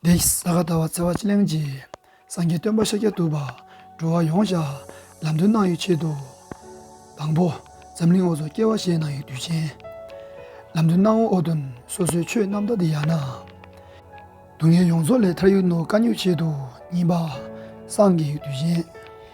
བདེ་གསལ་གདའ་བ་བརྩེ་བ་ཅི་གླེང་བགྱི། སངས་རྒྱས་སྟོན་པ་ཤཱཀྱ་ཐུབ་པ། འགྲོ་བ་ཡོངས་བཞག་ལམ་སྟོན་གནང་ཡོད་ཆེད་དུ། དང་པོ། འཛམ་གླིང་འོག་སུ་སྐྱེ་བ་བཞེས་གནང་ཡོད་དུས་ཆེན། ལམ་སྟོན་གནང་འོག་ཏུ། སོ་སོའི་ཆོས་རྣམ་དག་འདི་ཡང་ན། སྡུག་བསྔལ་ཡོངས་རྫོགས་ལས་ཐར་ཡུལ་ནོར་དཀའ་རྙོག་ཆེད་དུ་གཉིས་པ། སངས་རྒྱས་ཡོད་དུས་ཆེན།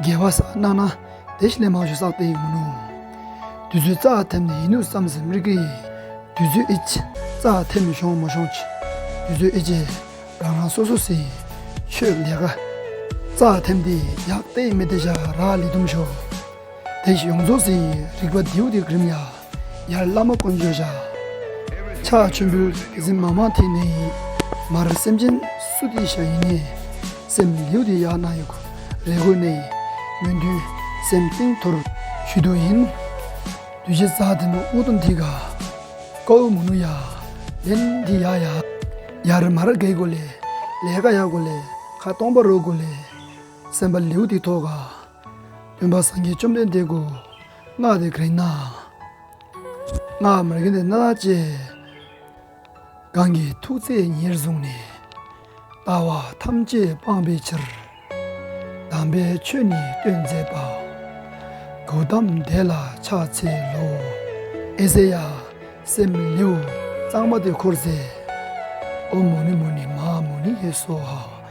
རྒྱལ་བ་སར་གནང་ན་དེ་ལས་མང་ཤོས་བསགས་ཏེ་ཡིན་མོད་ནོ། དུས་ཚོད་རྩ་ཐེམ་ནི་ཡིན་ནུས་བསམ་ཟིན་མི་གི། དུས་ཚོད་ཨི་ཅི་རྩ་ཐེམ་ཤོང་མ་ཤོང་ཅི། དུས་ཚོད་ཨི་ཅི་རང་རང་སོ་སོ་སི། ཆོས་ལས་ཀ། རྩ་ཐེམ་དེ་ཡག་བལྟས་མི་བལྟས་བཞག་རག་ལས་དུམ་ཤོག། དེ་བཞིན་ཡོངས་རྫོགས་ཟིན་ཡིན་རིག་པ་ལྡེའུ་དེ་གྲིམ་ཡ། ཡར་བླ་མ་དཀོན་མཆོག་བྱ། ཕྱག་མཆོད་འབུལ། གཟིམ་མ་མ་དེ་ནི་ཡིན། མར་སེམས་ཅན་སུ་དེ་བྱ་ཡིན་ནི། སེམས་ལྡེའུ་དེ་ཡར་སྣང་ཡོད། རས་གོས་གནས་ཡིན་མོད་མདུན། སེམས་སྟེང་དུར་བྱུད་དུ་ཡིན། བདུད་བཞི་རྩ་དེ་ནི་དབུ་དང་ཐིག། ཀ་འུ་མུ་ནུ་ཡ། ལན་དེ་ཡ་ཡ། ཡར་མར་བགེགས་གོ་ལས། ལས་ཀ་ཡ་གོ་ལས། ཁ་སྟོང་པ་རོ་གོ་ལས། སེམས་པ་ལྡེའུ་དེ་ཐོག། སྟོན་པ་སངས་རྒྱས་བཅོམ་ལྡན་འདས་སྐུ། སྔགས་འདི་ག་རེ་ན། སྔགས་མི་རིང་དེ་ན་བཅས། གང་གི་ཐུགས་བརྩེ་ཉེར་བཟུང་ནས། ལྟ་བ་ཐམས་ཅད་སྤངས་པའི་ཕྱིར། དམ་པའི་ཆོས་ནི་སྟོན་མཛད་པ། གོ་བསྡམ་བཟླས་ལ་ཕྱག་འཚལ་ལོ། ཨེ་ཟེ་ཡ། སེམས་ལེའུ་གཙང་མ་དེ་འཁོར་མཛད། ཨོ་མོ་ནི་མོ་ནི་མ་མོ་ནི་ཧེ་སོ་ཧ།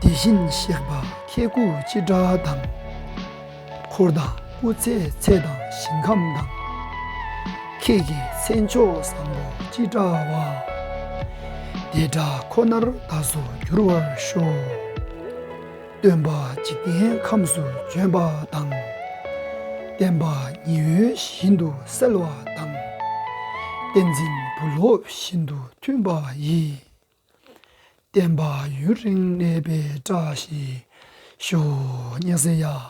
དེ་བཞིན་གཤེགས་པ་ཁྱེད་སྐུ་ཅི་དྲག་དང། འཁོར་དང་སྐུ་ཚེ་ཚད་དང་ཞིང་ཁམས་དང། ཁྱེད་ཀྱི་མཚན་མཆོག་བཟང་པོ་ཅི་དྲག་བ། བདེ་དགྲ་ཁོ་ནར་བདག་སོགས་འགྱུར་བར་ཤོག། སྟོན་པ་འཇིག་རྟེན་ཁམས་སུ་བྱོན་པ་དང། བསྟན་པ་ཉི་འོད་བཞིན་དུ་གསལ་བ་དང། བསྟན་འཛིན་བུ་སློབ་བཞིན་དུ་མཐུན་པ་ཡི། བསྟན་པ་ཡུན་རིང་གནས་པའི་བཀྲ་ཤིས་ཤོག། སྙན་གསན་ཡག།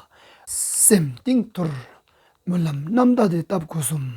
སེམས་གཏིང་དུལ། སྨོན་ལམ་རྣམ་དག་དེ་བཏབ་དགོས་གསུངས།